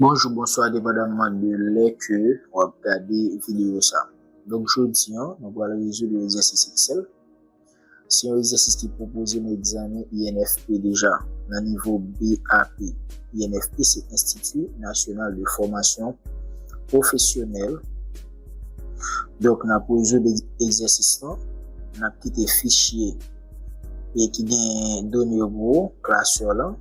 Bonjou bonswa depandaman de lè ke wap gade videyo sa donk jodi an nou pral rezoud yon egzèsis eksèl se yon egzèsis ki pwopoze nan egzamen INFP deja nan nivo BAP INFP se enstiti nasyonal de fòmasyon pwofesyonèl donk nan pou rezoud egzèsis lan nan kite fichye e ki gen done yo pou ou klasè lan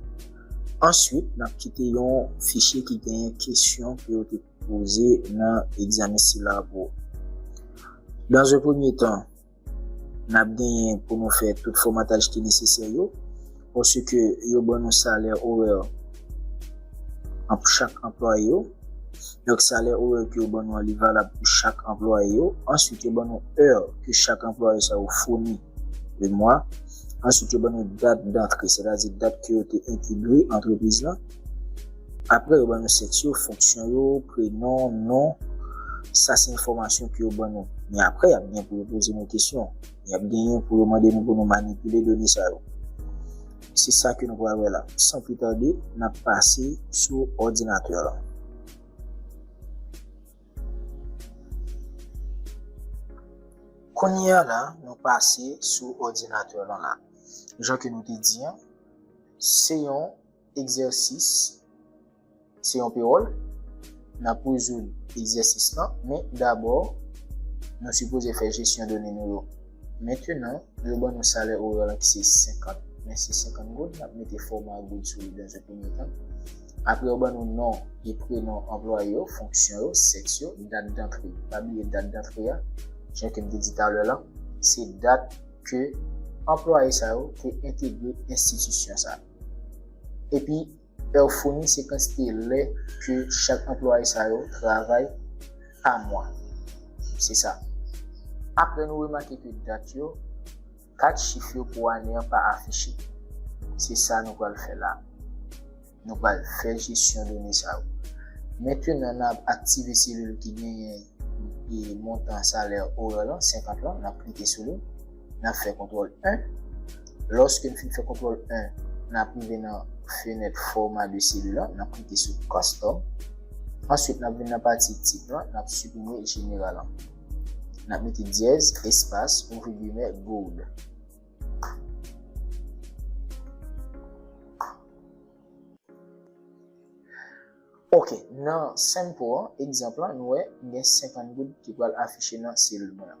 Answit, n ap kite yon fichye ki genyen kesyon ke yo te poze nan egzamen sila a pou ou. Dan ze premye tan, n ap genyen pou nou fè tout fòmataj ki nesesè yo, pòsike yo ban nou salè orè pou chak anplwaye yo. Donk, salè orè ke yo ban nou an li valab pou chak anplwaye yo. Answit, yo ban nou è ke chak anplwaye sa yo founi. le mwa. Answit yo ban nou dat dantre, se ta di dat ke yo te entegre antrepriz la. Apre yo ban nou sèks yo, fonksyon yo, prenon, non, sa se enfòmasyon ke yo ban nou. Men apre yap gen pou yo poze nou kesyon, yap genyen pou yo mande nou pou nou manipile done sa yo. Se sa ke nou pral wè la. San pli tarde, nap pase sou òdinatè la. Kounye a la, nou pase sou òdinatè lan la. Jan ke nou te di an, se yon egzèsis, se yon pewòl, n ap rezoud egzèsis lan, men dabò, nou sipoze fè jesyon done nou yo. Mentenan, yo ban nou salè orè lan ki se 50, men se 50 goud, n ap mete fòma goud sou li dan ze premye tan. Apre yo ban nou non e prenon anplwaye yo, fonksyon yo, sèks yo, dat dantre. Pa bliye dat dantre a, jan ke m te di talè lan, se dat ke anplwaye sa yo te entegre enstitisyon sa. Epi, è yo founi se kantite lè ke chak anplwaye sa yo travay pa mwa. Se sa. Apre nou remake ke dat yo. 4 chif yo pou ane an pa afiche. Se sa nou pral fè la. Nou pral fè jesyon done sa yo. Mentenan n ap aktive selil ki genyen montan salè orè lan, 50 lan, n ap klike sou li. N ap fè kontwòl 1. Lòske n fin fè kontwòl 1, n ap rive nan fenèt fòma de selil lan, n ap klike sou Custom. Answit n ap vin nan pati Tip lan, n ap siprime General lan. N ap mete dyèz, espas, ouvri gimè, goud. Ok, nan sample an, egzanp lan, nou wè gen 50 goud ki pral afiche nan selil mwen an.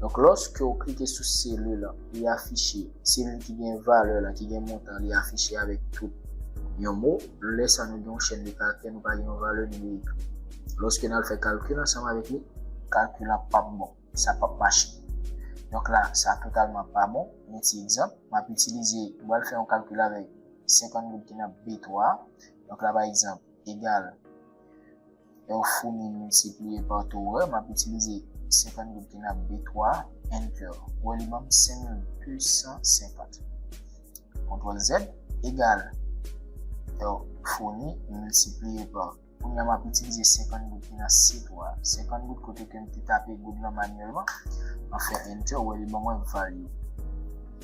Donk lòske ou klike sou selil lan li afiche selil ki gen valè la ki gen montan li afiche avèk tout yon mo lè sa nou gen yon chèn de karaktè nou pa gen yon valè nou dwe ekri lòske nal fè kalkil ansanm avèk li kalkil la pap bon sa pap mache donk la sa totalman pa bon yon ti egzanp map itilize mwen fè yon kalkil avèk 50 goud ki nan B3 donk la pa egzanp egal. Lè w founi miltipliye pa to orè, m ap itilize 50 goud ki nan B3, Enter. Ou wè li ban m 5250. Kontwòl Z, egal. Lè w founi miltipliye pa. Kounye a m ap itilize 50 goud ki nan C3. 50 goud kote ke m te tape goud lan manyèlman. Mwen fè Enter, ou wè li ban mwen value.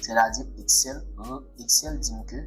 Sètadi Excel di m ke.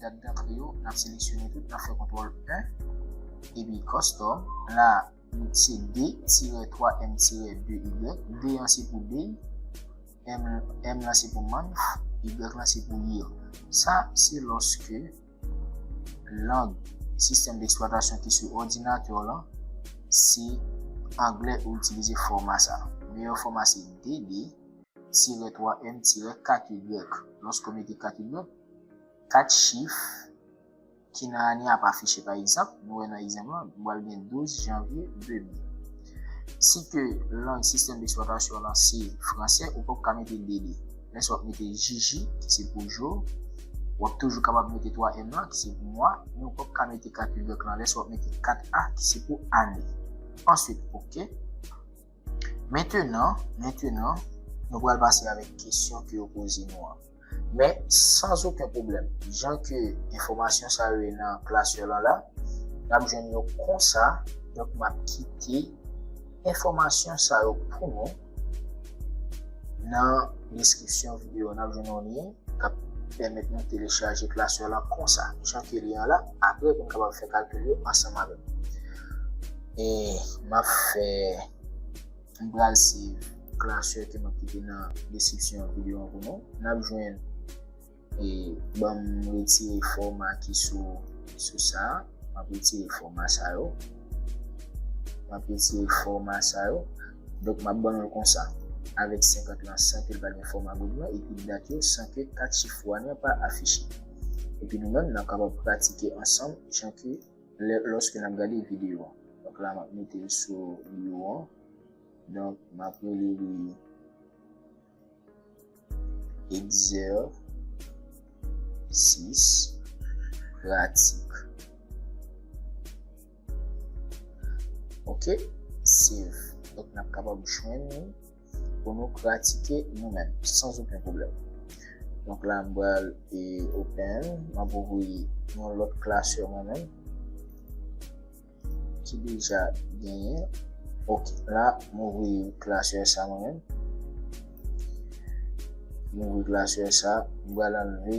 Dat dantre yo, n ap seleksyone tout, n ap fè kontwòl 1, epi kòstòm, la se de tirè 3 m tirè 2 y, de an se pou day, m lan se pou month, y lan se pou year. Sa se lòske lang sistèm deksplwatasyon ki sou òdinatè w lan se anglè ou itilize fòma sa. Meyè fòma se DD tirè 3 M tirè 4 Y. Lòske w mete 4 Y, 4 chif ki nan ane a ap afiche. Pa egzanp, nou wè nan egzanp lan, nou pral gen 12 janvye 2000. Si ke lang sistèm deksplwatasyon w lan se franse, ou pap ka mete 2 li. Lè sa w ap mete JJ, ki se pou jou, w ap toujou kapab mete 3 M lan, ki se pou mwa, men ou pap ka mete 4 Y lan lè sa w ap mete 4 A, ki se pou ane. Answit, ok. Mentenan, mentenan, nou pral pase avèk kesyon ke yo poze nou an. Men, san zoken pwoblèm, jan ke enfòmasyon sa yo ye nan klasè lan la, n ap jwenn yo konsa, donk m ap kite enfòmasyon sa yo pou nou nan deskripsyon videyo an. N ap jwenn yon lyen k ap pèmèt nou telechaje klasè lan konsa, jan ke li an la, apre pou n kapab fè kalkil yo ansanm avèk. E map fè m pral siv klasè ke map kite nan deskripsyon videyo an pou nou. Nap jwenn e banm retire fòma ki sou sou sa. Map retire fòma sa yo. Map retire fòma sa yo. Donk map ban nou l konsa. Avèk 50 lan san ke l pa gen fòma goud lan epi dat yo san ke 4 chif wan lan pa afiche. Epi nou menm nap kapab pratike ansanm jan ke Lè lòske nap gade video an. Donk la map metel sou bio an. Donk map rele li egzèsis pratik. Ok save. Donk nap kapab jwenn li. pou nou pratike nou menm san oken pwoblèm. Donk la m pral e open, m ap ouvri yon lòt klasè mwen menm ki deja genyen. Ok, la m ouvri klasè sa mwen menm. M ouvri klasè sa, m pral anleve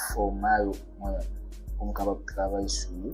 fòma yo mwen menm pou m kapab travay sou yo.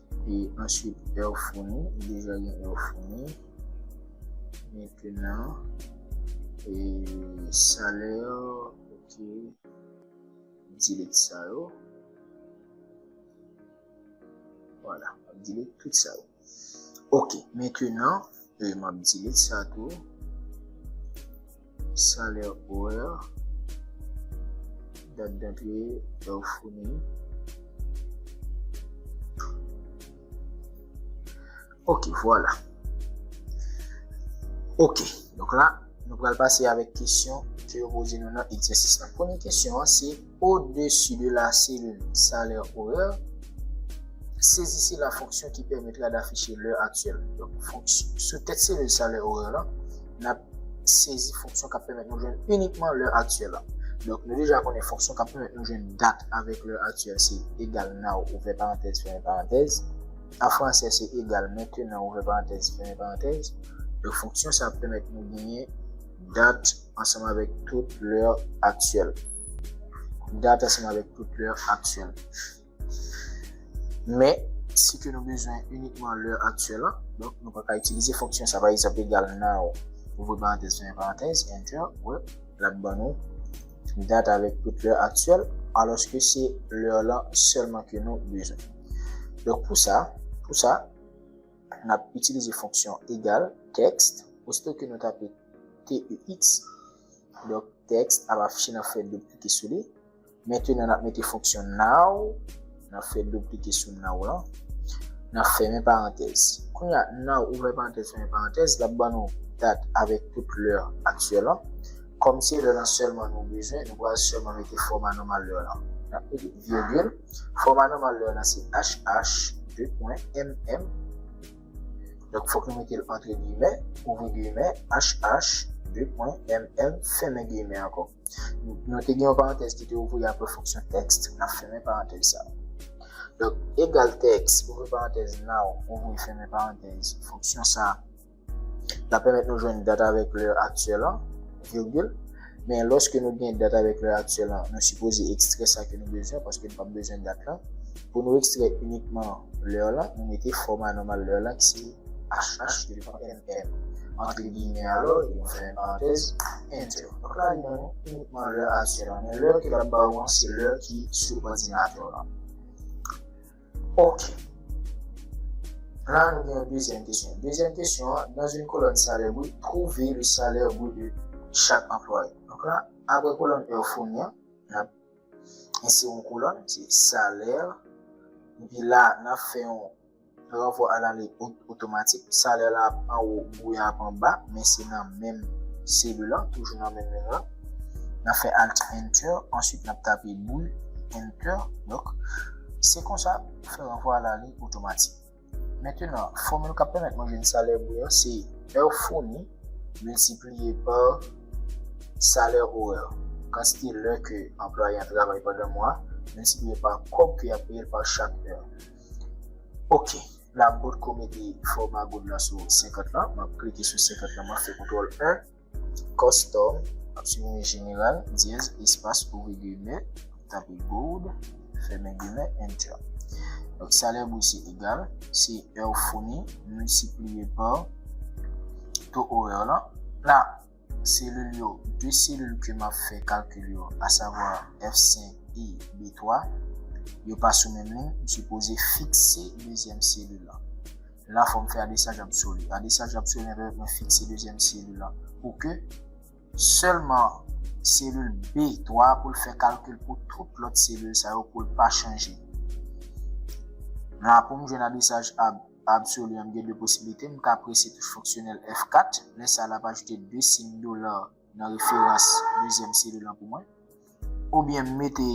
E answit èw founi, ou bezwen gen èw founi. Mentenan, e salè ok, delete sa yo. Vwala, delete tout sa yo. Ok, mentenan. E m ap delete sa tou. Salaire horaire. Date d'entrée, heure fournie. Ok, voilà. Ok, donc là, nou pral pase avèk kesyon ke yo poze nou nan egzèsis la. Premye kesyon an se... O desi de la selil salè orè, sezise la fonksyon ki pèmèt la dafiche lè aktyèl. Sou tèt selil salè orè lan, n ap sezi fonksyon k ap pèmèt nou jwenn inikman lè aktyèl la. Donk, nou deja konnen fonksyon k ap pèmèt nou jwenn dat avèk lè aktyèl se egal now ouvè parantèz fèmen parantèz. An fransè se egal maintenant ouvè parantèz fèmen parantèz. Donk, fonksyon sa ap pèmèt nou genyen dat. ansanm avèk tout lè aktyèl. Dat ansanm avèk tout lè aktyèl. Men, si ke nou bezwen unikman lè aktyèl an, donk nou pa ka itilize fonksyon sa. Pa egzanp, egal now, ouvri parantèz, fèmen parantèz, enter, wè, l ap ban nou dat avèk tout lè aktyèl, alòske se lè lan sèlman ke nou bezwen. Donk pou sa, pou sa, n ap itilize fonksyon egal, text, osito ke nou tape. TEX, donk tèks ap afiche nan fè doub klike sou li. Mentenan n ap mete fonksyon now nan fè doub klike sou now lan, n ap fèmen parantèz. Kounye a, now ouvè parantèz fèmen parantèz, l ap ban nou dat avèk tout lè aktyèl lan. Kòm se lè lan sèlman nou bezwen, nou pral sèlman mete fòma nòmal lè lan. N ap mete virgil, fòma nòmal lè lan se HH, 2 pwen, MM. Donk fòk nou mete l antre giyimè, ouvri giyimè, HH, de pwen, MM, fèmen giyimè ankò. Nou te gen yon parantèz ki te ouvri apre fonksyon text, n ap fèmen parantèz sa a. Donk, egal tèks, ouvri parantèz, now, ouvri fèmen parantèz, fonksyon sa a, l ap pèmèt nou jwenn dat avèk lè aktyèl an, virgil. Men lòske nou gen dat avèk lè aktyèl lan, nou sipoze ekstrè sa ke nou bezwen paske nou pap bezwen dat lan. Pou nou ekstrè inikman lè lan, nou mete fòma nòmal lè lan ki se HH ke li pa MM. Antre giyimè alò, epi nou fèmen parantèz, Enter. Donk la li ban nou inikman lè aktyèl lan, men lè ke l ap ba ou an se lè ki sou òdinatè w lan. Ok. La nou gen yon dezyèm kesyon. Dezyèm kesyon an, nan yon kolòn salè brut, twouve le salè brut de chak anplwaye. Donk la, apre kolòn èw founi an, n ap ensere yon kolòn, se salè, epi la, n ap fè yon ranvwa a la lèt o. Otomatik, salè la ap anwo, bouyon ap anba, men se nan menm selu lan, toujou nan menm liy lan. Nap fè Alt Enter, answit nap tape bouy, Enter, donk se konsa pou fè ranvwa a la liy otomatik. Mentenan, fòmil kap pèmèt mwen jwenn salè bouy an se èr founi miltipliye pa salè orè, kantite lè ke anplwaye an travay pandan mwa a, miltipliye pa kòb ke yap peye l pa chak èr. Ok. la m potko mete fòma goud la sou 50 lan m ap klike sou 50 lan m ap fè kontwòl 1 kòstòm m ap siprimen jeneral dyèz espas ouvri gimè tape goud fèmen gimè enter donk salè brut se egal se è ou founi miltipliye pa to orè w lan la. Selil yo, 2 selil ke m ap fè kalkil yo, asavwa F5 e B3, yo pa sou menm liy, m sipoze fikse dezyèm selil la. La fò m fè adresaj absoli. Adresaj absoli an pèmèt mwen fikse dezyèm selil la pou ke sèlman selil B3 a pou l fè kalkil pou tout lòt selil sa yo pou l pa chanje. La pou m jwenn adresaj ab. Absolu a m gen 2 posiblite, m ka prese touch fonksyonèl F4, lè sa l ap ajoute 2 siyn dola nan referans dezyèm selil lan pou mwen, oubyen m mete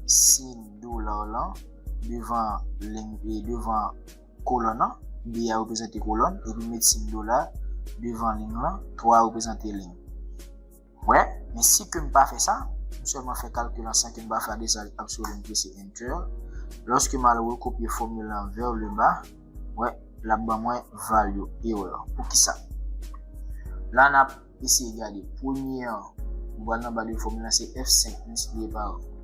siyn dola lan devan ling e devan kolòn lan, B a reprezante kolòn epi m met siyn dola devan ling lan, 3 a reprezante ling. Wè, men si ke m pa fè sa, m sèlman fè kalkil an san ke m pa fè adressage absolu m prese Enter, lòske m al rekopye fòmil lan vers le bas, wè, l ap ban mwen value erreur. Poukisa? La n ap eseye gade, premye an, m pral nan ba de fòmil lan se F5 multiplié par.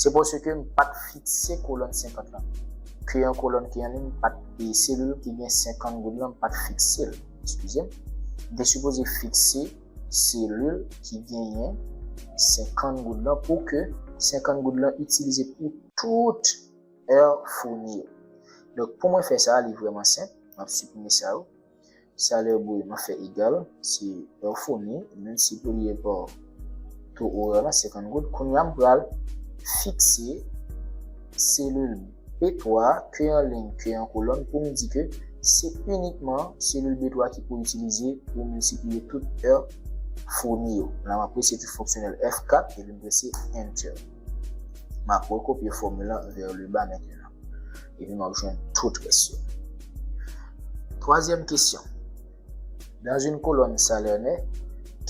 Se paske m pa t fikse kolòn 50 lan. Ke yon kolòn ki anliy m pa t e selil ki gen 50 goud lan m pa t fikse l. Eskize m. M te sipoze fikse selil ki genyen 50 goud lan pou ke 50 goud lan itilize pou tout èr founi yo. Donk pou mwen fè sa a li vrèman senp. M ap siprime sa yo. Salè bou yo nan fè egal, se lè ou founi, menm si pou li e pa to orè lan 50 goud. Kounye a m pral fikse selil B3 ke an liy ke an kolòn pou m di ke se inikman selil B3 ki pou itilize pou miltipliye tout è founi yo. La m ap prese ti fonksyonèl F4 epi m prese Enter. M ap rekopye fòmil lan vè le ba mentenan. E pi map jwenn tout rès yo. Twazyèm kesyon. Dans une colonne salaire net,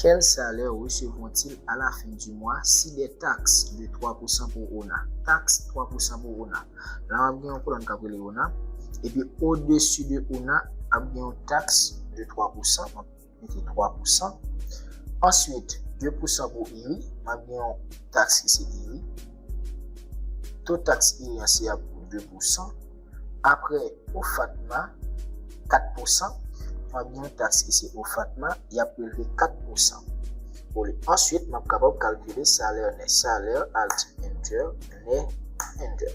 quel salaire recevront-ils à la fin du mois si des taxes de 3 pou san pou ona? Taxe 3 pou san pou ona. La map gen yon kolòn kap rele ona. E pi o desu de ona ap gen yon taxe de 3 pou san. mete 3 pou san. Answit, 2 pou san pou iri, map gen yon taks ki se iri. To taks iri an se ap 2 pou san. Apre, OFATMA, 4 pou san. Map gen yon taks ki se OFATMA, yap prelve 4 pou san. Answit, map kapab kalkile salè nè. Salè, al di enter, nè, enter.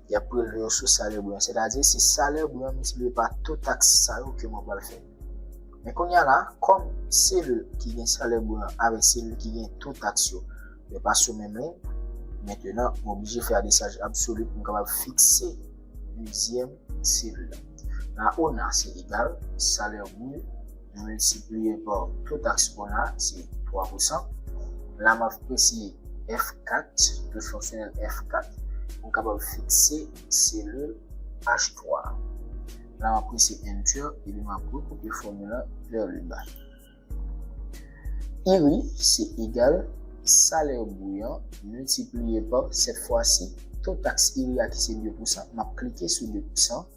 y ap prelve yo sou salè blan, sètadi si salè blan an miltipliye pa to taks sa yo ke mwen pral fè. Men kounye a la, kòm selil ki gen salè blan an avèk selil ki gen to taks yo, yo pa sou menm liy, mentenan m oblije fè adresaj absoli pou m kapab fikse dezyèm selil la. La ona se egal salè brut. Nou miltipliye pa to taks pon an se 3 pousan. La m ap prese F4, tout fonksyonèl F4, pou m kapab fikse selil H3 a. La m ap prese Enter epi m ap rekopye fòmil la vè le ba. IRI se egal salè bri an miltipliye pa, sèt fwa si, to taks IRI a ki se 2 pousan, m ap klike sou 2 pousan,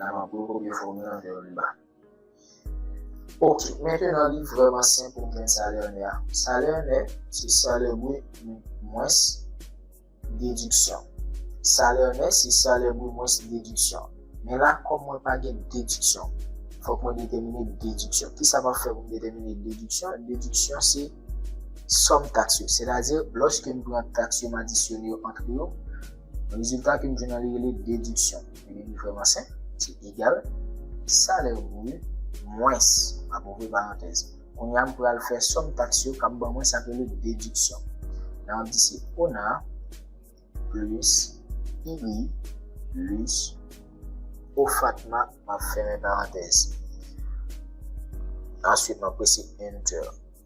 La map gwo kopye fòmil lan fè youn bak. Ok, mentenan li vrèman senp pou m jwenn salè nè a. Salè nè se salè brut mwens dediksyon. Salè nè se salè brut mwens dediksyon. Men la kòm mwen pa gen dediksyon, fòk mwen detèmine dediksyon. Kisa map fè pou m detèmine dediksyon? Dediksyon se sòm taks yo. Sètadi, lòske m pran taks yo m adisyone yo antre yo. Rezilta ke m jwenn an li rele dediksyon. Ebyen li vrèman senp, li se egal, salè bru mwens, ap ouvri parantèz. Kounye a m pral fè sòm taks yo k ap ban mwen sa k rele dediksyon. Nan ap di se ona plis iri plis ofatma m ap fèmen parantèz. Answit m ap prese enter.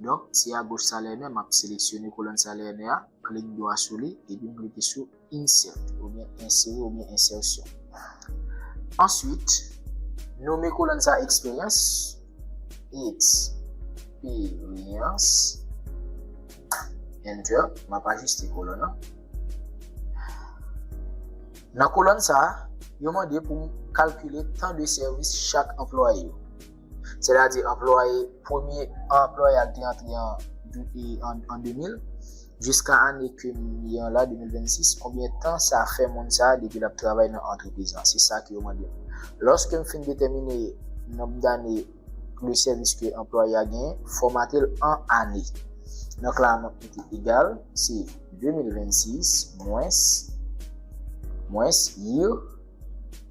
Donk, si a goch Salène, m ap seleksyone kolòn Salène a, klik dwa sou li, epi m klike sou Insert, oubyen Ensere oubyen Ensèsyon. Answit, nome kolòn sa Eksperyans, Eksperyans, Enter, m ap ajiste kolòn an. Nan kolòn sa, yo mande pou m kalkile tan de sèvis chak anplwaye yo. sètadi anplwaye premye anplwaye a te antre an 2000 jiska ane ke m ye an la 2026 konbyen tan sa fè moun sa depi l ap travay nan antrepriz la se sa ke yo mande m lòske m fin detèmine nonb dane de sèvis ke anplwaye a genyen fòmate l an ane donk la map mete egal se 2026 mwens mwens year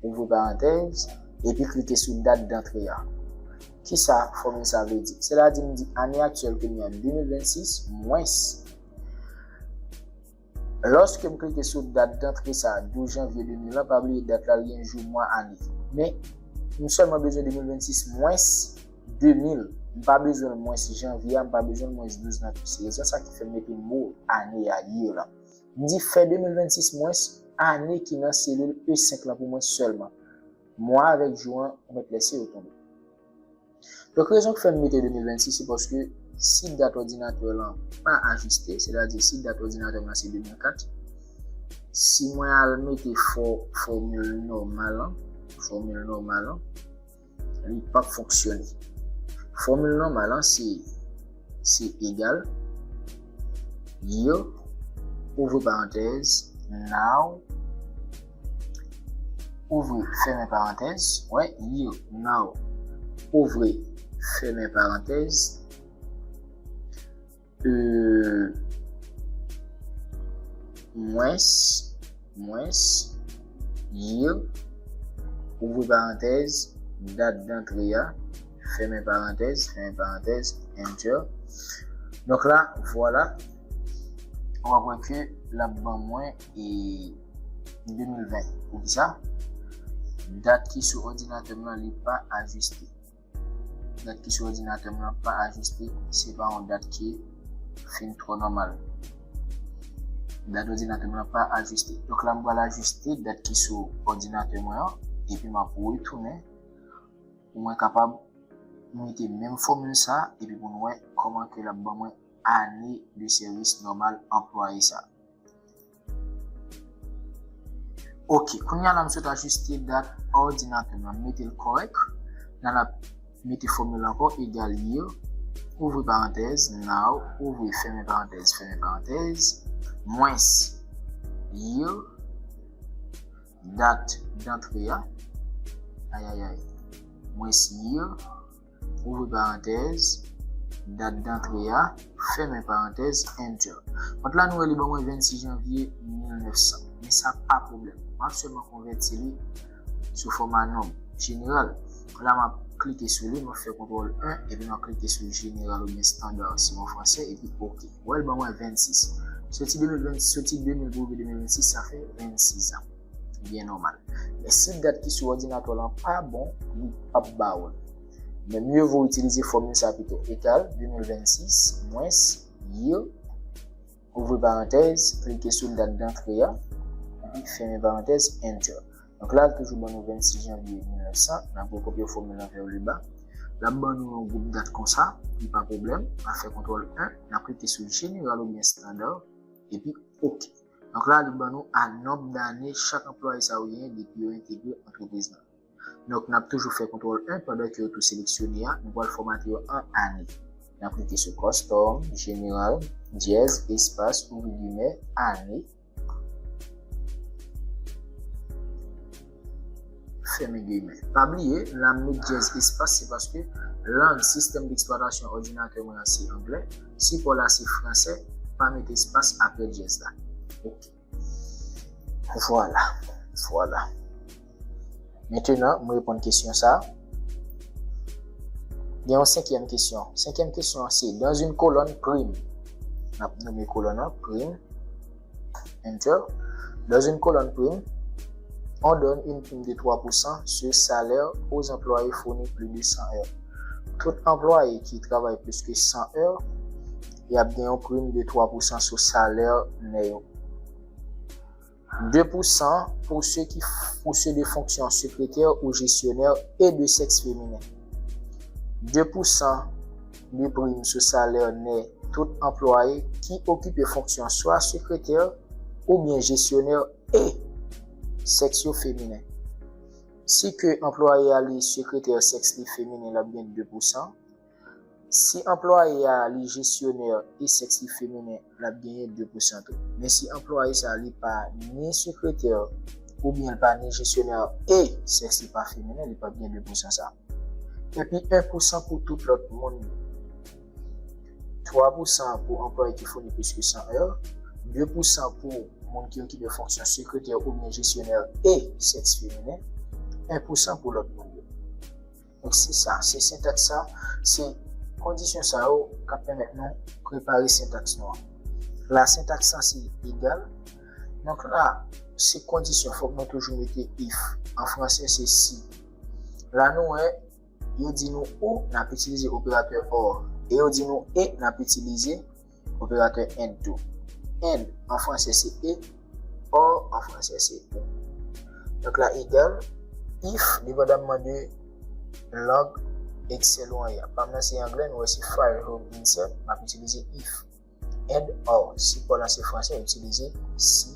ouvri parantèz, epi klike sou dat dantre a. Kisa fòmil sa vle di? Sela di m di ane aktyèl kounye a 2026 mwens. Lòske m klike sou dat dantre sa 12 janvye 2000 lan, pa bliye dat la li gen jou, mwa, ane. Men, m sèlman bezwen 2026 mwens 2000. M pa bezwen l mwens janvye a, m pa bezwen l mwens 12 nan tou. Se rezon sa ki fè m mete mo ane a, year, lan. M di fè 2026 mwen s ane ki nan selil E 5 lan pou mwen sèlman. Mwa avèk jou an ou mèt lèse yo tonbe. Donk rezon k fè m mete 2026 se paske si dat òdinatè w lan pa ajiste, sètadi si dat òdinatè m lan se 2004, si mwen al mete fòmil nòmal an, fòmil nòmal an, Li pap fonksyone. Fòmil nòmal an se se egal year ouvri parantèz now ouvri fèmen parantèz wè year now ouvri fèmen parantèz mwens, mwens, year, ouvri parantèz, dat dantre a, fèmen parantèz, fèmen parantèz, enter. Donk la, vwala, ou ap wè ke l ap ban mwen 2020. Poukisa? Dat ki sou òdinatè m lan li pa ajiste. Dat ki sou òdinatè m lan pa ajiste, se pa yon dat ki fin twò nòmal. Dat òdinatè m lan pa ajiste. Donk la m pral ajiste dat ki sou òdinatè mwen an, epi m ap retounen pou mwen kapab mete menm fòmil sa a epi pou n wè kòman ke l ap ban mwen ane de sèvis nòmal anplwaye sa a. Ok, kounye a la m sot ajuste dat òdinatè nan mete l kòrèk. Nan la mete fòmil ankò egal year, ouvri parantèz, now, ouvri fèmen parantèz, fèmen parantèz, mwens year, dat dantre a, ayayay, mwens year, ouvri parantèz, dat dantre a, fèmen parantèz, enter. Kont la nou wè li ban mwen 26 janvye 1900, men sa pa pwoblèm, m ap sèlman konvèti li sou fòma nonb, jeneral. La m ap klike sou li, m ap fè kontwòl 1, epi m ap klike sou jeneral oubyen standa si an fransè, epi ok. Ou wè l ban mwen 26. Soti 2020, soti 2000 pou rive 2026, sa fè 26 an. Byen nòmal. Men si dat ki sou òdinatè w lan pa bon, li pap ba ou l. Men mye vo itilize fòmil sa pito, egal 2026 mwens year, ouvri parantèz, klike sou dat dantre a, epi fèmen parantèz, enter. Donk la, l toujou ban nou 26 janvye 1900, n ap rekopye fòmil lan vè leba. L ap ban nou yon gwoup dat konsa, li pa pwoblèm, n ap fè kontwòl 1, n ap klike sou jeneral oubyen standard, epi ok. Donk la li ban nou a nonb dane chak anplwaye sa yo genyen depi yo entegre antrepriz la. Donk n ap toujou fè kontwòl 1 pandan ke yo tou seleksyone a, nou pral fòmate yo an ane. N ap klike sou Kòstòm, Jeneral, Dyèz, Espas, Ouvri gimè, Ane. fèmen gimè. Pa bliye, lè m met dyèz espas se paske lang sistèm deksplwatasyon òdinatè mwen an se anglè, sipò la se fransè, pa met espas aprè dyèz la. Ok. Vwala. Vwala. Mentenan, m reponn kesyon sa a. Gen yon senkyèm kesyon. Senkyèm kesyon an se, dans une colonne, prim. N ap nome kolòn an, prim. Enter. Dans une colonne prime, on donne une prime de 3 pou san sur salaire aux employés fournis plus de 100 heures. Tout anplwaye ki travay plis ke 100 heures, y ap gen yon prim de 3 pou san sou salè nè yo. 2 pou san pou se ki pou se de fonksyon sekretè ou jesyonè e de sèks feminen. 2 pou san 2 prim sou salè nè tout anplwaye ki okipe fonksyon swa sekretè oubyen jesyonè e sèks yo feminen. Si ke anplwaye a li sekretè sèks li feminen l ap gen 2 pousan, si anplwaye a li jesyonè e sèks li feminen lap genyen 2 pousan tou. Men si anplwaye sa li pa ni sekretè ou byen li pa ni jesyonè e sèks li pa feminen li pap gen 2 pousan sa. Epi 1 pousan pou tout lòt moun yo. 3 pousan pou anplwaye ki founi plis ke 100 è. 2 pousan pou moun ki okipe fonksyon sekretè ou byen jesyonè e sèks feminen. 1 pousan pou lòt moun yo. Ak si sa, se sentaks sa, se kondisyon sa yo k ap pèmèt nou prepare sentaks nou an. La sentaks sa se egal. Donk la, se kondisyon, fòk nou toujou mete if. An franse, se si. La nou wè, yo di nou ou, n ap itilize operatè or. E yo di nou e, n ap itilize. Operatè and tou. And an franse se e, or an franse se ou. Donk la egal if depandamman de lang Excel ou an ya. Pa m nan se angle, nou wè se File, Home, Insert, m ap itilize if. And or, si pa w lan se franse, itilize si.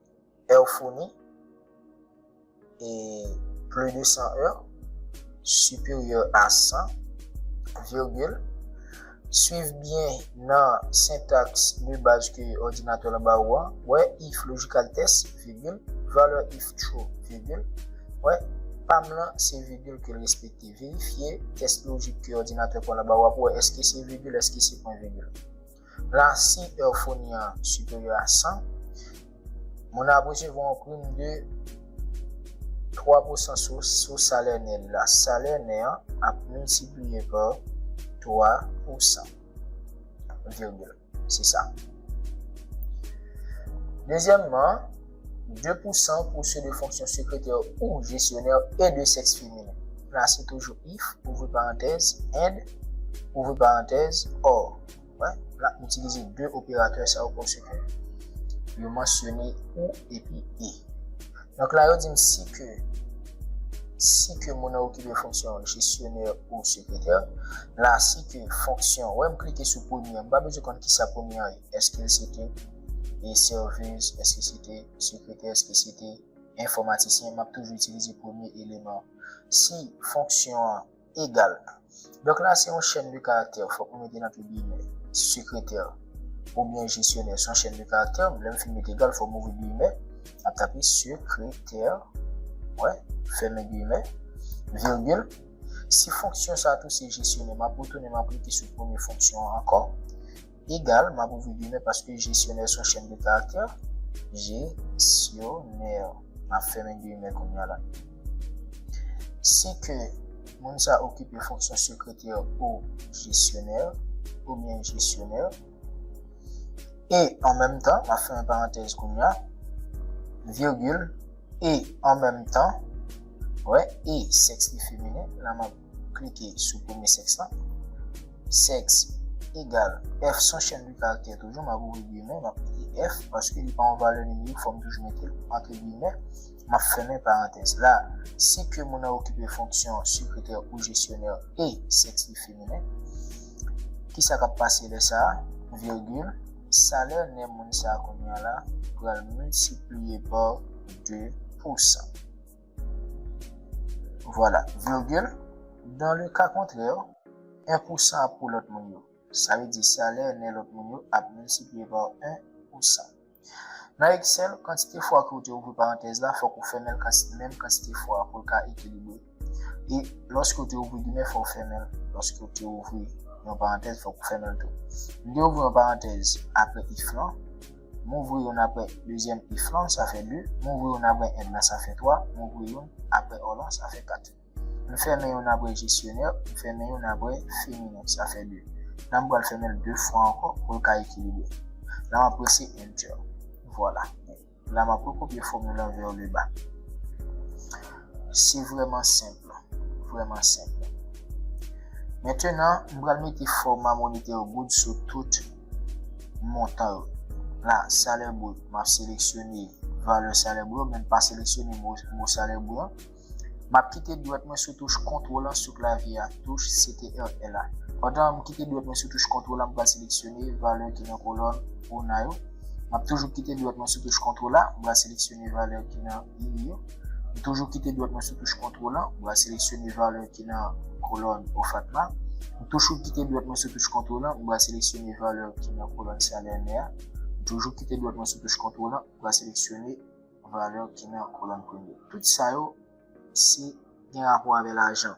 Èr founi, e plu de 100 èr, siperyè a 100, virgil, Swiv byen nan sentaks de baz ke òdinatè lan ba ou an, wè if lojikaltès, vigil, valè if tru, vigil, wè, pa m lan se vigil ke l respekte. Verifye tès lojik ke òdinatè pwen lan ba ou a pou wè èske se vigil, èske se pwen vigil. Plan si euphony an siperyè a 100, moun nan ap resevwa yon prim de 3 pousan sou salè nè l la. Salè nè an ap miltipliye pa 3 pousan. Virgil. Se sa. Dezyèmman, 2 pousan pou se de fonksyon sekretè ou jesyonè e de sèks feminen. Plan si toujou if, ouvri parantèz, and, ouvri parantèz, or. wè, la itilize 2 operatè sa yo pòsè kè. Yo mansyone ou epi e. Donk la yo di m si ke, si ke moun an okipe fonksyon jesyonè ou sekretè, la si ke fonksyon, wè m klike sou premye an, m pa bezwen konn ki sa premye an ye, eske l se te e servez, eske se te sekretè, eske se te enfòmatisyen, m ap toujou itilize premye eleman. Si fonksyon an, Egal. Donk la se yon chèn de karaktè fòk nou mete nan pye giyimè. Sekretè oubyen jesyonè se yon chèn de karaktè. Lè m fin met egal fòk m ouvri giyimè. M ap tape sekretè mwen, fèmen giyimè, virgil. Si fonksyon sa a tou se jesyonè, m ap retounen m ap klike sou premye fonksyon an ankò. Egal, m ap ouvri gimè paske jesyonè s on chenn de karaktè, jesyonè, m ap fèmen gimè kounye a la. Si ke moun sa okipe fonksyon sekretè o jesyonè, oubyen jesyonè, e an menm tan, m ap fèmen parantèz kounye a, virgil, e an menm tan, wè, e sèks li feminen, la m ap. Klike sou premye sèks la. Sèks egal F son chèn de karaktè toujou. M ap ouvri giymen, m ap mete F paske li pa yon valè nimerik fò m toujou mete l antre giymen. M ap fèmen parantèz la. Si ke moun nan okipe fonksyon sekretè ou jesyonè e sèks li feminen, ki sa k ap pase lè sa a? Virgil, Salè nè moun sa a kounye a la pral miltipliye pa 2 pou 100. Vwala, virgil, Dans le cas contraire, 1 pou 100 ap pou lòt moun yo. Sa vle di salè nè lòt moun yo ap miltipliye pa 1 pou 100. Nan Excel, kantite fwa ke ou te ouvri parantèz la fòk ou fèmen l menm kantite fwa pou l ka ekilibre. E lòske ou te ouvri gimè fò ou fèmen l. Lòske ou te ouvri yon parantèz fòk ou fèmen l tou. M te ouvri yon parantèz apre if lan. M ouvri youn aprè dezyèm if lan, sa fè 2. M ouvri youn aprè and lan, sa fè 3. M ouvri youn aprè or lan, sa fè 4. M fèmen youn aprè jesyonè, m fèmen youn aprè feminen, sa fè 2. La m pral fèmen l 2 fwa ankò pou l ka ekilibre. La m ap prese Enter. Vwala. La m ap rekopye fòmil lan vè le ba. Se vrèman senp. Vrèman senp. Mentenan, m pral mete fòma monetè yo goud sou tout. montan yo. La, salè brut, m ap seleksyone valè salè brut yo, men m pa seleksyone mo salè brut an. M ap kite dwèt mwen sou touch kontwòl an sou klavye a, touch CTRL a. Pandan m kite dwèt mwen sou touch kontwòl la, m pral seleksyone valè ki nan kolòn ona yo. M ap toujou kite dwèt mwen sou touch kontwòl la, m pral seleksyone valè ki nan. Li yo. Li toujou kite dwèt mwen sou touch kontwòl la, mwen seleksyone valè ki nan kolòn OFATMA. Mwen toujou kite dwèt mwen sou touch kontwòl la, mwen seleksyone valè ki nan kolòn salè mè a. Mwen toujou kite dwèt mwen sou touch kontwòl la, mwen seleksyone valè ki nan kolòn premye. Tout sa yo se gen rapò avè lajan.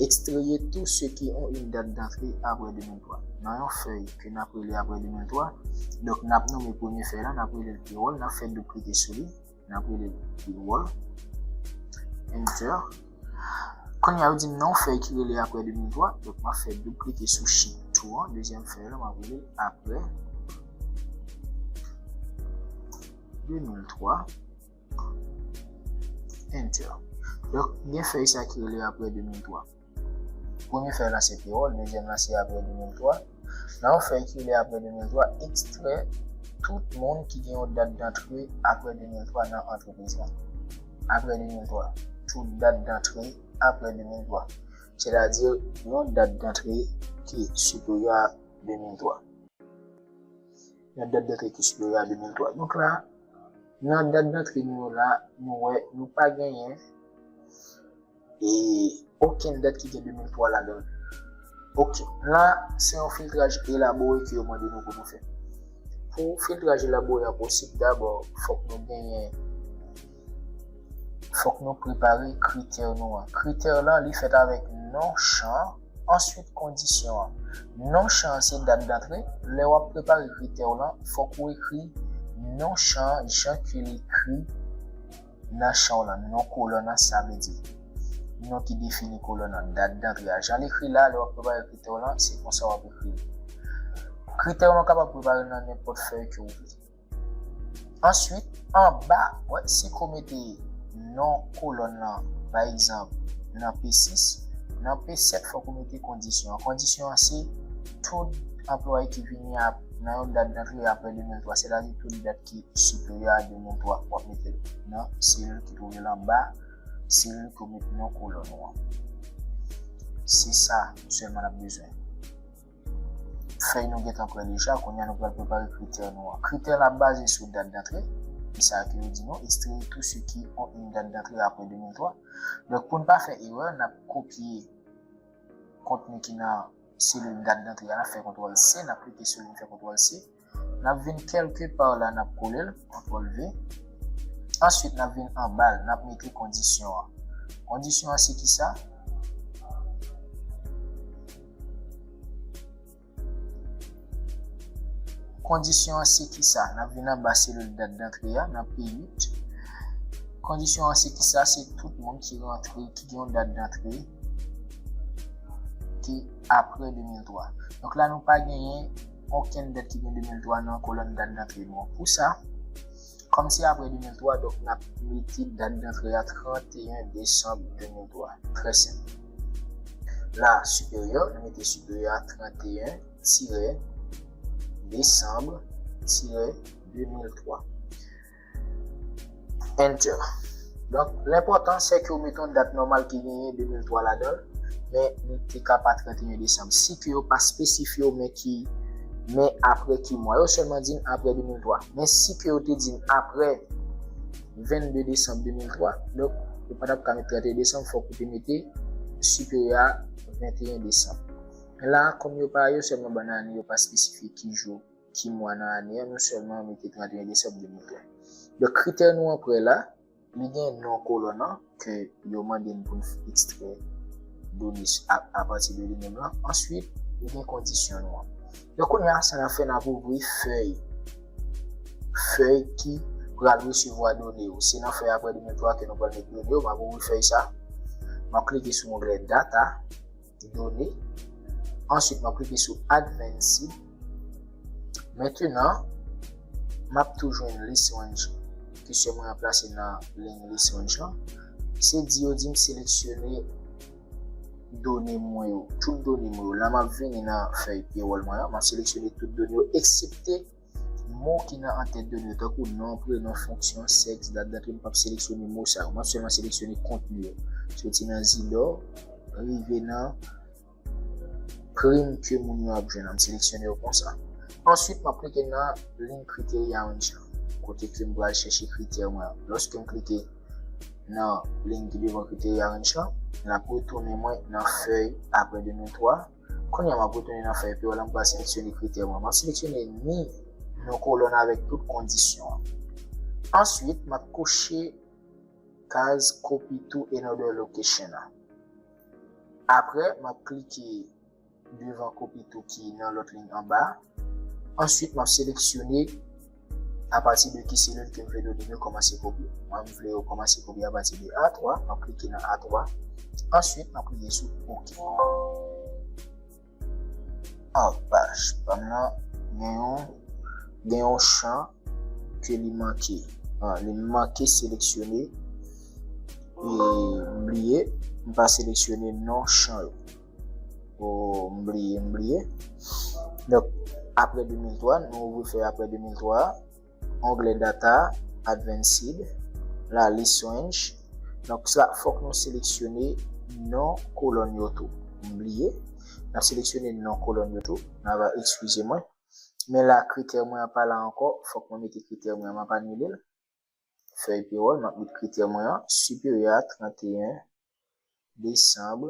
Ekstreye tou se ki on yn dat dantre apre 2003. Nan yon fèy ke nap rele apre 2003, donk nap nome premye fèy la, nap rele l pewòl, nap fè doub klike sou li, nap rele l pewòl, enter. Kounye a yo di m nan yon fèy ki rele apre 2003, donk map fè doub klike sou sheet 2 an, dezyèm fèy la, map rele l apre 2003. Enter. Donk, gen fèy sa ki rele apre 2003. Premye fèy lan se pewòl, dezyèm lan se apre 2003. Nan yon fèy ki rele apre 2003, ekstrè tout moun ki gen yon dat dantre apre 2003 nan antrepriz lan. Apre 2003. Tout dat dantre apre 2003. Sètadi, yon dat dantre ki siperyè a 2003. Nan dat dantre kesyon yo la 2003. Donk la, nan dat dantre nou yo la, nou wè nou pa genyen e okenn dat ki gen 2003 ladan l. Okenn. La, se yon filtraj elabore ke yo mande nou pou nou fè. Pou filtraj elabore a posib, dabò, fòk nou genyen. Fòk nou prepare kritè nou an. Kritè lan li fèt avèk non chan an, answit kondisyon an. Non chan an se dat dantre, lè wap prepare kritè w lan fòk ou ekri non chan an jan ke l ekri nan chan w lan, non kolòn an sa vle di non ki defini kolòn an, dat dantre a jan l ekri la lè wap prepare kritè w lan se konsa wap ekri l. Kritè w lan w kapab prepare l nan nenpòt fèy ke w vle. Answit, anba, wè si ko mete non kolòn lan, pa egzanp, nan P6, nan P7 fòk ou mete kondisyon an. Kondisyon an se, tout anplwaye ki vini nan yon dat dantre apre 2003, sètadi tout dat ki siperyè a 2003, w ap mete l nan selil ki twouve l anba selil ke w met non kolòn ou an. Se sa sèlman n ap bezwen. Fèy nou gentan prè deja, kounye a nou pral prepare kritè nou an. Kritè la baze sou dat dantre, ki sa ke yo di nou, extraire tout ce qui ont une date d'entrée après 2003. Donk pou n pa fè erè, n ap kopye kontni ki nan selil dat dantre a, n ap fè kontwòl C, n ap klike sou li, n fè kontwòl C. Nap vin kelke par la nap kolel, kontrol V. Answit nap vin anbal nap mete kondisyon an. Kondisyon an se kisa? Kondisyon an se kisa? Nap vin anba selil dat dantre a nan P8. Kondisyon an se kisa? Se tout moun ki rantre, ki gen yon dat dantre ki apre 2003. Donk la nou pa genyen. okenn dèt ki gen 2003 nan kolòn dat dantre nou an. Pou sa, kòm se apre 2003, donk n ap mete dat dantre a 31 desanm 2003. Trè senp. La, siperyè, nou mete siperyè a 31 tirè desanm tirè 2003. Enter. Donk, l enpòtan se ke w mete yon dat nòmal ki genyen 2003 ladan l, men li te ka pa 31 desanm. Si ke yo pa espesifye w men ki, men apre ki mwa. Yo sèlman di n apre 2003. Men si ke yo te di n apre 22 desanm 2003, donk, ou pa t ap ka mete 31 desanm, fòk ou te mete siperyè a 21 desanm. Men la a, kòm yo pa, yo sèlman ban n ane, yo pa espesifye ki jou. Ki mwa nan ane an nou sèlman mete 31 desèm 2020. Donk kritè nou an prè la, li gen non kolonn an ke yo mande n pou n ekstrè done apati de li menm lan. Answit, li gen kondisyon nou an. Donk kounye a, sa n ap fè, n ap ouvri fèy, fèy ki pral resevwa done yo. Se nan fèy aprè 2003 ke nou pral met done yo. M ap ouvri fèy sa. M ap klike sou onglè data. Done. Answit map klike sou Advanced. Mentenan map tou jwenn List Range ke sè mwen an plase nan Line List Range lan. Se di yo dim seleksyone done mwen yo. Tout done mwen yo. La map vini nan fèy Payroll mwen an. Map seleksyone tout done yo eksepte. Mo ki nan antèt done yo tankou non, prenon, fonksyon, sèks, dat, date yo m pap seleksyone mo sa yo map sèlman seleksyone kontni yo soti nan zilò rive nan prim ke moun yo ap jwenn an m seleksyone yo konsa answit map klike nan link kriteria an jan kote ke m pral chèche kritè mwen an lòske m klike nan link ki devan kriteria an jan lap retounen mwen nan fèy apre 2 men 3. Kounye a m ap retounen nan fèy pi wo la m pral seleksyone kritè mwen. M ap seleksyone ni yon kolòn avèk tout kondisyon an. Answit m ap kouche kaz copy to another location an. Aprè m ap klike devan copy to ki nan lòt liy anba a. Answit m ap seleksyone A pati de ki selil ke m vle donnen yo kòmanse kopye? Mwen m vle yo kòmanse kopye a pati de A3, m ap klike nan A3, answit m ap klike sou ok. An paj pa m nan gen yon, gen yon chan ke li manke. An, li manke seleksyone, e m bliye m pa seleksyone non chan yo. Oh m bliye m bliye Donk apre 2003 nou ouvri fè apre 2003 onglè data advanced la lis range Donk sa fòk nou seleksyone non kolòn yo tou m bliye n ap seleksyone non kolòn yo tou n ava ekskize mwen men la kritè mwen an pa la ankò fòk mwen mete kritè mwen an m ap anile l fèy pewòl map met kritè mwen an siperyè a 31 desanm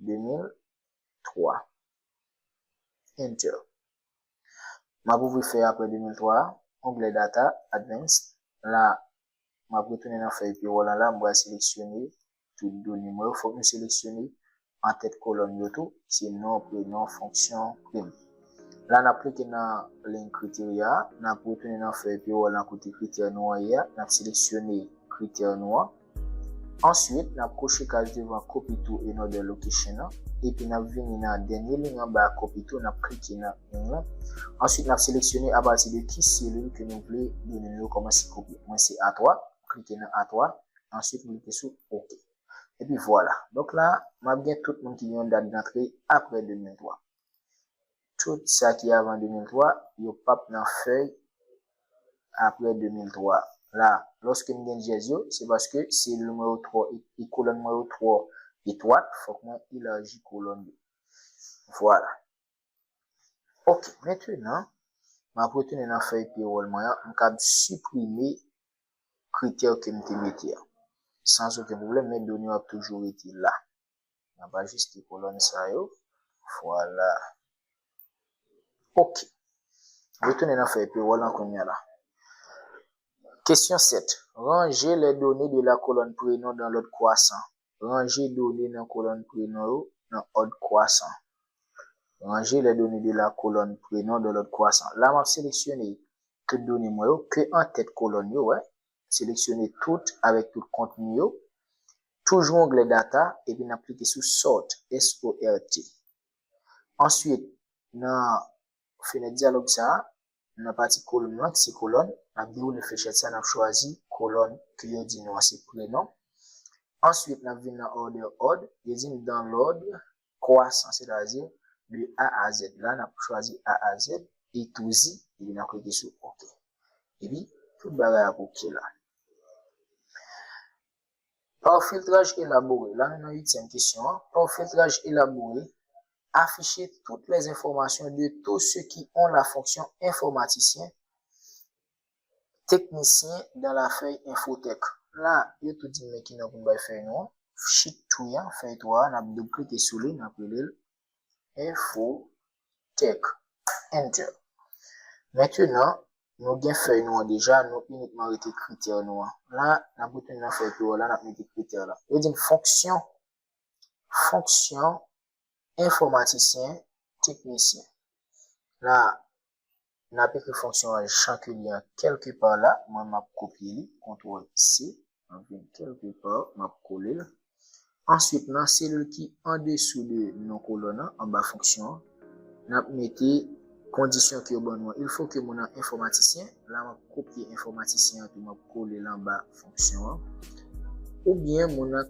2003 enter map ouvri fèy aprè 2003 a onglè data advance la map retounen nan fèy pewòl an la m pral seleksyone tout done mwen yo fòk m seleksyone antèt kolòn yo tou se non, prenon, fonksyon, prim. La n ap klike nan liy kriteria a, n ap retounen nan fèy P-Roll lan kote kritè nou an ye a, n ap seleksyone kritè nou an. Answit, n ap koche kaz devan Copy to another location an, epi n ap vini nan dènye liy anba a Copy to, n ap klike nan ing lan. Answit, n ap seleksyone apati de ki selil ke nou vle done nou yo kòmanse kopye. Mwen se A3. ou klike nan a 3 answit ou klike sou ok epi vwala donk la map gen tout moun ki gen yon dat dantre aprè 2003 tout sa ki avan 2003 yo pap nan fèy aprè 2003 la lòske m gen dyèz yo se paske selil mwen yo twò e kolòn mwen yo twò etwat fòk mwen elaji kolòn yo vwala. Ok, mentenan, m ap retounen nan fèy pewòl mwen an, m kab siprime kritè ke m te mete an. Sans oken pwoblèm, men done yo ap toujou rete la. M ap ajiste kolòn sa yo. Vwala. Ok. Retounen nan fèy pewòl lan kounya la. Kesyon 7. Ranje les données de la colonne Prénom dans l'ordre croissant. Ranje done nan kolòn prenon yo nan òd kwasan. Ranje les données de la colonne Prénoms dans l'ordre croissant. La m ap seleksyone tout done mwen yo ke antèt kolòn yo, wè, seleksyone tout avèk tout kontni yo, toujou onglè Data, epi n ap klike sou Sort, S-O-R-T. Answit, nan fenèt dyalòg sa a, Nan pati kolonn lan ki se kolòn, n ap dewoule flechèt sa, n ap chwazi kolòn ke yo di nou an se prenon. Answit n ap vin nan order odd, yo di n dans l'ordre croissant, sètadi de A a Z la, n ap chwazi A a Z, e touzi, epi n ap klike sou ok. Epi tout bagay ap ok la. Pa yon filtraj elabore, la nou nan uityèm kesyon an, pa yon filtraj elabore, afiche tout les informations de tous ceux qui ont la fonction informaticien, technicien dans la fèy Infotech. La, yo tou di m men ki non pou m bay fèy nou an, sheet 3 an, fèy 3 a, n ap doub klike sou li, n ap rele l Info Tech Enter Mentenan nou gen fèy nou an deja, nou inikman rete kritè nou an. La, n ap retounen nan fèy Pivot la, n ap mete kritè la. Yo di n fonksyon, fonksyon, enfòmatisyen, teknisyen. La, N ap ekri fonksyon an jan ke li an kèlke pa la. Mwen m ap kopye li, kontwòl C. M ap vin kèlke pa, m ap kole l. Answit, nan selil ki andesou de non kolòn an, anba fonksyon an, n ap mete kondisyon ke yo ban nou an. Il fo ke moun an enfòmatisyen. La m ap kopye enfòmatisyen an tou, m ap kole l anba fonksyon an. Oubyen moun an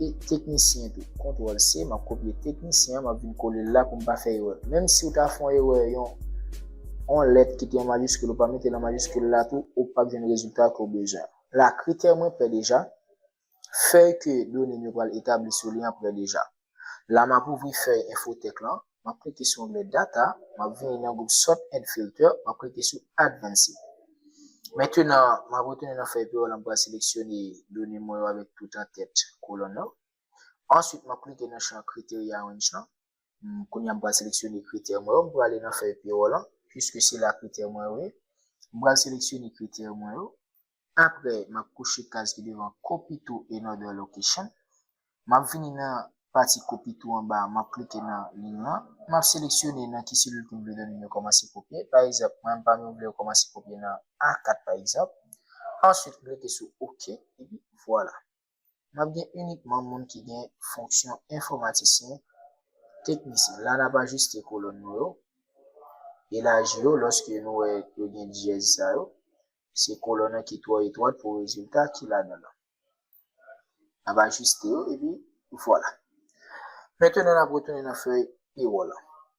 E teknisyen tou. Kontwòl se, m ap kopye teknisyen an, m ap vin kole l la pou m pa fè erè. Menm si ou ta fè yon erè, yon yon lèt ki te an majiskil ou pa mete l an majiskil la tou, ou pap jwenn rezilta ke w bezwen an. La, kritè mwen prè deja, fèy ke done m yo pral etabli sou li an prè deja. La map ouvri fèy infotech lan, map klike sou onglè Data, map vini nan gwoup Sort and Filter, map klike sou Advanced. Mentenan, map retounen nan fèy Payroll la, m pral seleksyone done mwen yo avèk tout antèt kolonn lan. Answit, map klike nan chan Criteria Range lan. Kounye a m pral seleksyone kritè mwen yo, m prale nan fèy Payroll lan, pwiske se la kritè mwen yo ye. M pral seleksyone kritè mwen yo, Aprè map kouche kaz ki devan copy to another location, map vini nan pati copy to anba a map klike nan liy lan, map seleksyone nan ki selil kem vle done yo kòmanse kopye, pa egzanp mwen pam yo mvle yo kòmanse kopye nan A4 pa egzanp, answit m klike sou ok epi vwala. m ap gen inikman moun ki gen fonksyon enfòmatisyen, teknisyen. La n ap ajiste kolòn nou yo, elaji yo lòske nou wè yo gen dyèz sa yo. Se kolòn an ki twò etwat pou rezilta ki ladan l lan. N ap ajiste yo epi vwala. Mentenan n ap retounen nan fèy pewòl lan.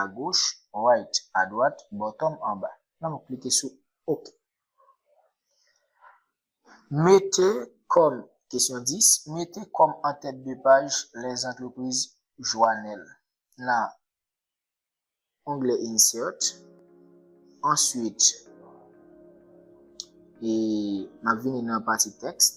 agoch, right, adwat, bottom, anba. Nan m klike sou ok. Mete kòm, kesyon 10, mete kòm an tèt de paj les entreprises Joanel nan onglè insert. Answit, e m ap vini nan pati text.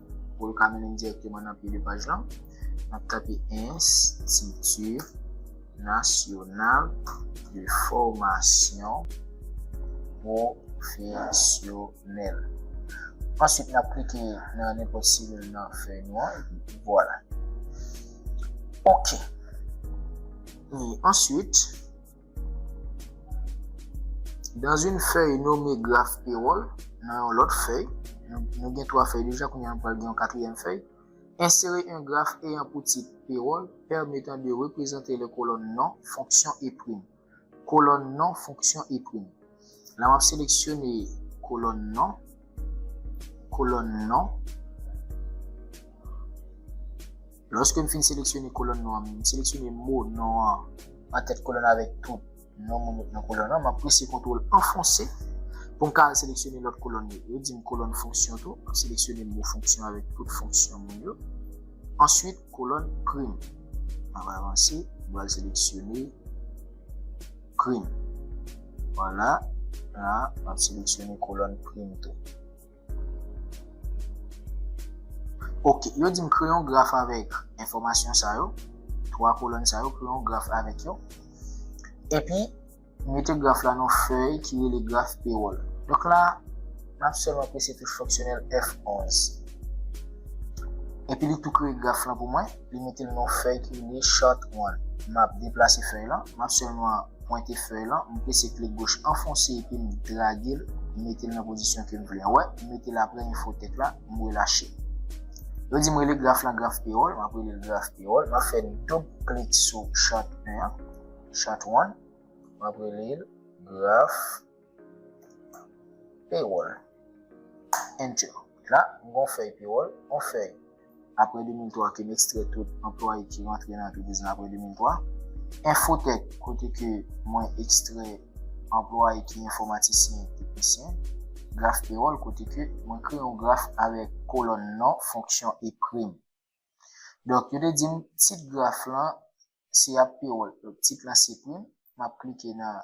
Pou l ka mennen m dirèkteman nan pye 2 paj lan, n ap tape Enstiti Nasyonal de Fòmasyon Pwofesyonèl. Ansuit, n ap klike nan nenpòt selil nan fèy nou an epi vwala. Ok. E ansuit. Dans une fèy nome graf pewòl, nan yon lòt fèy, nou gen 3 fèy deja kounye a nou pral gen yon katriyèm fèy, ensere un graf eyan pou tit Pewòl pèmetan de reprezante lè kolòn non, fonksyon e prim. Kolòn non, fonksyon e prim. La wap seleksyone kolòn non, kolòn non. Lòske m fin seleksyone kolòn non an, m seleksyone mo non an an tèt kolòn nan avèk tout non moun yo ki nan kolòn nan, m ap prese kontwòl anfonse pou m ka al seleksyone lòt kolòn yo. Yo di m kolòn fonksyon tou, m seleksyone mo fonksyon avèk tout fonksyon moun yo. Answit kolòn prim. M ap avanse, m pral seleksyone. Prim. Vwala, la a, m ap seleksyone kolòn prim tou. Ok, yo di m kreye yon graf avèk enfòmasyon sa yo, 3 kolòn sa yo, kreye yon graf avèk yo. Epi, mete graf la nan fèy ki rele graf pewòl. Donk la, m ap sèlman prese touch fonksyonèl F11. Epi li tou kreye graf lan pou mwen. li mete l nan fèy ki rele Chart 1. M ap deplase fèy lan, m ap sèlman pwente fèy lan, m pese klik goch anfonse epi m drage l mete l nan pozisyon ke m vle a. Wè, m mete l aprè enfo tèt la, m relache l. Yo di m rele graf lan graf pewòl, m ap rele l graf pewòl. M ap fè doub klik sou Chart 1 an, Chart 1, m ap rele l graf. Payroll. Enter. La, m gon fèy payroll, on fèy. Apre 2003 ke m ekstrè tout anplwaye ki rantre nan antrepriz nan apre 2003. Infotech, kote ke mwen ekstrè anplwaye ki enfomatisyen, teknisyen. Graf payroll, kote ke mwen kreye yon graf avèk kolòn non, fonksyon e prim. Donk, yo te di m tit graf lan se ap payroll. Donk, tit lan se prim. M ap klike nan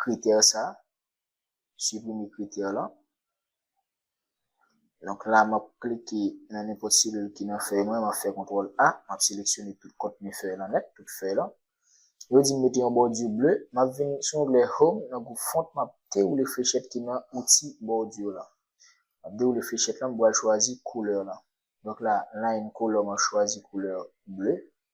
kritè sa, siprime kritè lan. Donk la map klike nan nenpòt selil ki nan fèy mwen, map fè kontrol A, map seleksyone tout kontni fèy lan nèt, tout fèy lan. Yo di m mete yon bòdi ble, map vin sou onglè Home nan gwoup Font, map dewoule flechèt ki nan Outi Bòdi lan. Map dewoule flechèt lan, m pral chwazi koulè lan. Donk la, Line Color map chwazi koulè ble.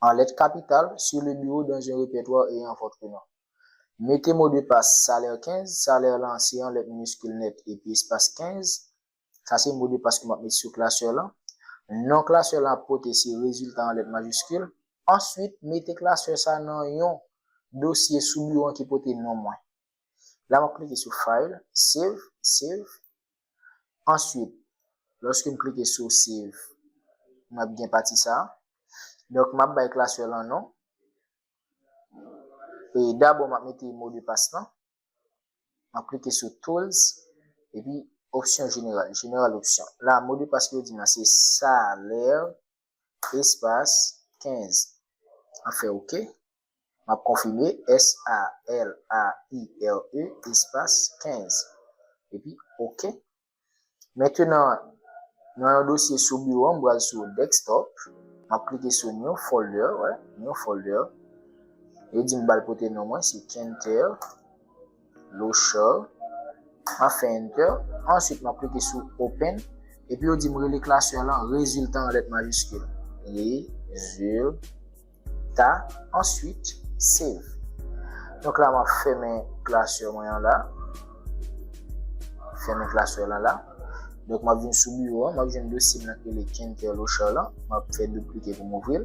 an lèt kapital, sur le bureau dans un repertoire ayant votre nom. Mete mo de pas salèr 15, salèr lan se an lèt miniskil nèt epi espas 15, sa se mo de pas ke m ap mete sou klasè lan. Non klasè lan ap pote se rezilta an lèt majiskil. Answit, mete klasè sa nan yon dosye sou biwo an ki pote non mwen. La m ap klike sou File, Save, Save. Answit, lòske m klike sou Save, m ap gen pati sa a. Donk, m ap bay klasè lan non. E dabò m ap mete modpas lan. M ap klike sou Tools, epi Opsyon Jeneral, General Option. La a, modpas ke yo di m lan se Salaire. espas 15 an fè ok m ap konfime s-a-l-a-i-r-e espas 15 epi ok mentenan nan yon dosye sou biwo m pral sou desktop m ap klike sou new folder new folder yo di m bal pote non mwen se kenter. Lochard, map fè enter, answit map klike sou open, epi yo dim rele klasè lan rezilta an lèt majiskil, rezilta, answit save. Donk la map fèmen klasè mwen an la, fèmen klasè lan la, donk map vin sou biwo an, map jwenn dosye m lan ki rele Kenter Lochard lan, map fè doub klike pou m ouvril.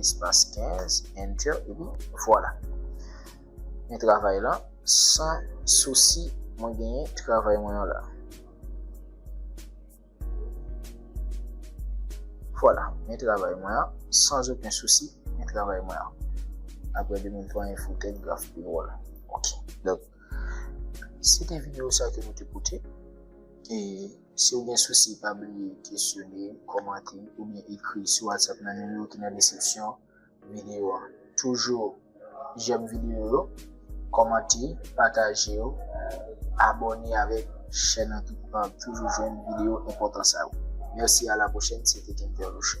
Espas 15, Enter, epi vwala. Men travay lan, san sousi mwen genyen travay mwen an la. Vwala, men travay mwen an, san oken sousi, men travay mwen an. Apre 2003, yon foutèk graf pi dwòl. Ok, donk, se te videyo sa ke nou te pote, e... Si w gen sousi pa bliye kesyone, kòmante oubyen ekri sou WhatsApp nan nimewo ki nan deskripsyon videyo a. Toujou jèm videyo yo, kòmante, pataje yo, abòne avèk chèn an tout pa ap toujou jwenn videyo enpòtan sa yo. Mèsi a la pwochèn se te Kentè Loche.